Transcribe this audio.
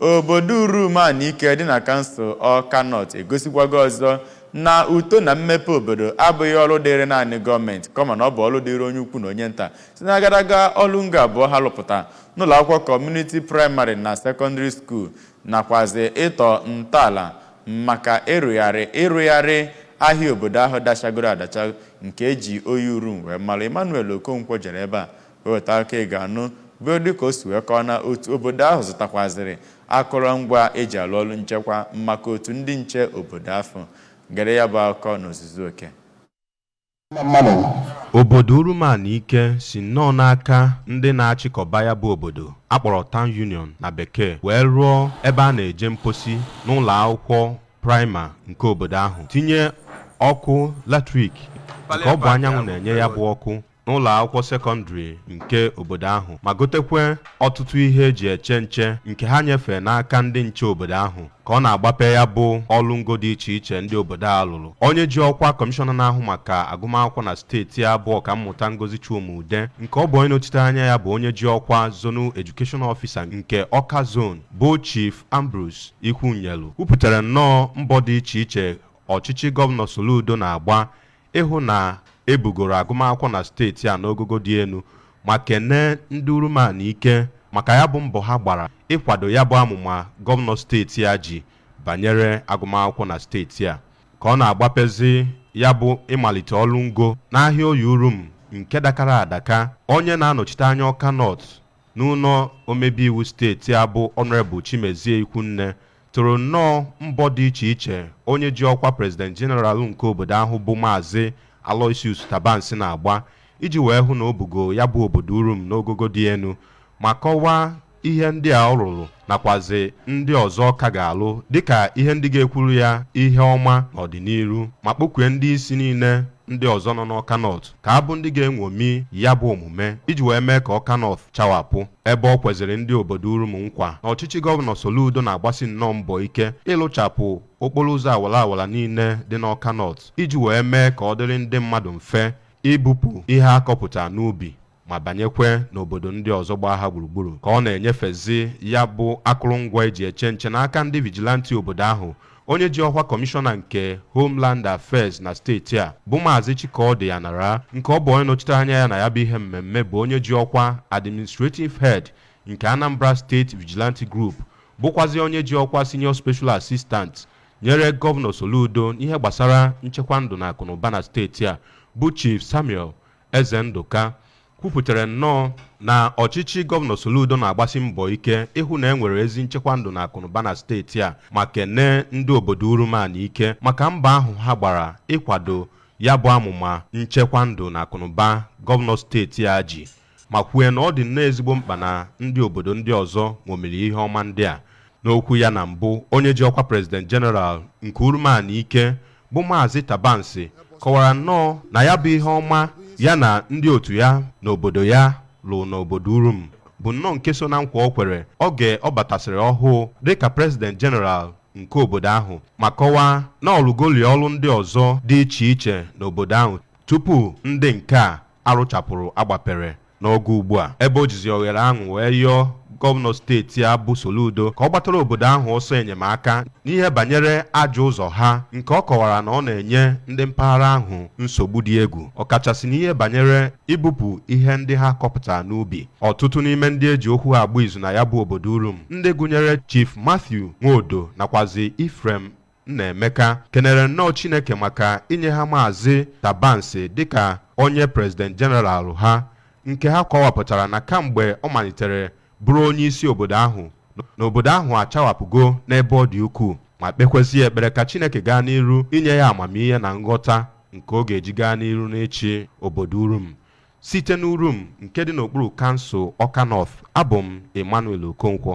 Obodo Urum Anike dị na kansụl Awka North egosikwago ọzọ na uto na mmepe obodo abụghị ọrụ dịịrị naanị gọọmenti kama na ọ bụ ọrụ dịịrị onye ukwu na onye nta site n'agadaga ọrụ ngo abụọ ha lụpụta n'ụlọakwụkwọ kọmuniti praịmarị na sekọndịrị skuul nakwazị ịtọ ntọala maka ịrụgharị ịrụgharị ahịa obodo ahụ dachagoro adacha nke e ji Oye Urum wee mara. Emmanuel Okonkwo jere ebe a weta akụkọ ị ga-anụ bụ dịka o si wee kọọ na otu obodo ahụ zụtakwazịrị akụrụngwa e ji alụ ọrụ nchekwa maka otu ndị nche obodo afụ. Gere ya bụ akụkọ n'ozuzu oke. Obodo Urum Anike si nnọọ n'aka ndị na-achịkọba ya bụ obodo a kpọrọ Town Union na Bekee wee rụọ ebe a na-eje mposi n'ụlọ akwụkwọ praịma nke obodo ahụ, tinye ọkụ latrik nke ọ bụ anyanwụ na-enye ya bụ ọkụ n'ụlọ akwụkwọ sekọndịrị nke obodo ahụ ma gotekwe ọtụtụ ihe eji eche nche nke ha nyefee n'aka ndị nche obodo ahụ ka ọ na-agbape ya bụ ọrụ ngo dị iche iche ndị obodo a lụrụ onye ji ọkwa kọmishọna na-ahụ maka agụmakwụkwọ na steeti a bụ ọkammụta Ngozi Chuma-Udeh nke ọ bụ onye nọchite anya ya bụ onye ji ọkwa Zonal Education Officer nke Ọka Zone bụ Chief Ambrose Ikwunyelu kwupụtara nnọọ mbọ dị iche iche ọchịchị gọvanọ Soludo na-agba ịhụ na e bugoro agụmakwụkwọ na steeti a n'ogogo dị enu ma kenee ndị Urum Anike maka ya bụ mbọ ha gbara ịkwado ya bụ amụma gọvanọ steeti a ji banyere agụmakwụkwọ na steeti a ka ọ na-agbapezi ya bụ ịmalite ọrụ ngo n'ahịa Oye Urum nke dakara adaka. Onye na-anọchite anya Ọka North N'ụlọ omebeiwu steeti a bụ Honourable Chimezie Ikwunne toro nnọọ mbọ dị iche iche onye ji ọkwa President General nke obodo ahụ bụ Maazị Aloysius Tabansi na-agba iji wee hụ na o bugo ya bụ obodo Urum n'ogogo dị enu ma kọwaa ihe ndị a ọ rụrụ nakwazị ndị ọzọ ọ ka ga-alụ dịka ihe ndị ga-ekwuru ya ihe ọma n'ọdịnihu ma kpọkue ndị isi niile ndị ọzọ nọ n'Ọka North ka abụ ndị ga-enwomi ya bụ omume iji wee mee ka Ọka North chawapụ ebe o kweziri ndị obodo Urum nkwa na ọchịchị gọvanọ Soludo na-agbasi nnọọ mbọ ike ịlụchapụ okporo ụzọ awara awara niile dị n'Ọka North iji wee mee ka ọ dịrị ndị mmadụ mfe ibupụ ihe a kọpụta n'ubi ma banyekwe n'obodo ndị ọzọ gbaa ha gburugburu ka ọ na-enyefezi ya bụ akụrụngwa eji eche nche n'aka ndị vijilanti obodo ahụ onye ji ọkwa kọmishọna nke Homeland Affairs na steeti a bụ maazị Chikaọdị Anara nke ọ bụ onye nọchite anya ya na ya bụ ihe mmemme bụ onye ji ọkwa administrative head nke Anambra State Vigilante Group bụkwazi onye ji ọkwa senior special assistant nyere gọvanọ Soludo n'ihe gbasara nchekwa ndụ na akụnụba na steeti a bụ Chief Samuel Ezendụka kwupụtara nnọọ na ọchịchị gọvanọ Soludo na-agbasi mbọ ike ịhụ na e nwere ezi nchekwa ndụ na akụnụba na steeti a ma kenee ndị obodo Urum Anaike maka mbọ ahụ ha gbara ịkwado ya bụ amụma nchekwa ndụ na akụnụba gọvanọ steeti a ji ma kwue na ọ dị nnọọ ezigbo mkpa na ndị obodo ndị ọzọ ṅomiri ihe ọma ndị a n'okwu ya na mbụ onye ji ọkwa prezident jeneral nke Urum Anaike bụ Maazị Tabansi kọwara nnọọ na ya bụ ihe ọma ya na ndị otu ya n'obodo ya lụ n'obodo Urum bụ nnọọ nke so na nkwa o kwere oge ọ batasịrị ọhụụ dịka prezident jeneral nke obodo ahụ ma kọwaa na ọ lụgoli ọrụ ndị ọzọ dị iche iche n'obodo ahụ tupu ndị nke a a rụchapụrụ a gbapere n'oge ugbu a ebe o jizi oghere ahụ wee yọọ gọvanọ steeti a bụ Soludo ka ọ gbatara obodo ahụ ọsọ enyemaka n'ihe banyere ajọ ụzọ ha nke ọ kọwara na ọ na-enye ndị mpaghara ahụ nsogbu dị egwu ọkachasị n'ihe banyere ibupụ ihe ndị ha kọpụtara n'ubi ọtụtụ n'ime ndị e ji okwu ha agba izu na ya bụ obodo Urum ndị gụnyere Chief Matthew Nwodo nakwazi Ephraim Nnaemeka kenere nnọọ Chineke maka inye ha Maazị Tabansi dịka onye President General ha nke ha kọwapụtara na kamgbe ọ malitere bụrụ onye isi obodo ahụ na obodo ahụ achawapụgo n'ebe ọ dị ukwuu ma kpekwezie ekpere ka Chineke gaa n'iru inye ya amamihe na nghọta nke ọ ga-eji gaa n'iru n'ịchị obodo Urum. Site n'Urum nke dị n'okpuru kansụl Ọka North, abụ m Emmanuel Okonkwo.